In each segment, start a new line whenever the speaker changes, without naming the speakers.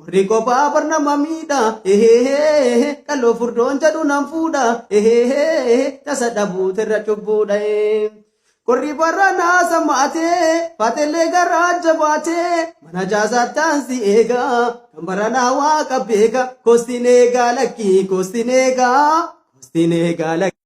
Warri kophaa bar nama miidha ehehehe qal'oo furdoon jedhu nan fuudha ehehehe tasa dhabuutu irra cubbuudha ee. Qorri barra naasa maatee faatellee garaa jabaatee mana jaasaattaan si eega kan baranaa waaqa beeka kostiin eegaa lakkii kostiin eegaa kostiin eegaa lakkii.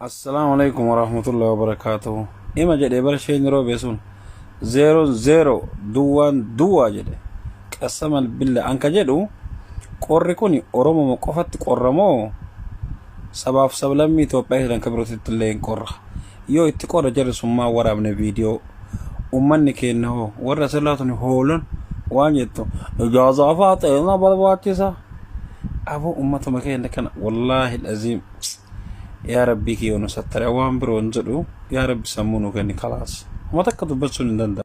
Assalaamu alaikum warahmatullahi wabarakaatuhu. Ima jedhe bara isheen yeroo beesun zeeroon zeero duwwaan duwwaa jedhe qasaman billa an ka jedhu qorri kun oromoma qofatti qorra moo sabaaf sablammii Itoophiyaa jedhan ka birootitti illee hin qorra yoo itti qorra jarri sun maa waraabne viidiyoo ummanni keenna hoo warra silaa tuni hoolan waan jettu ijaazaa faa xeena barbaachisa aboo ummatuma keenna kana wallaahi aziim yaa rabbii kiyoo nu sattara waan biroo hin jedhu yaa rabbi sammuu nu kenni kalaas homa takka dubbachuun hin danda'amu.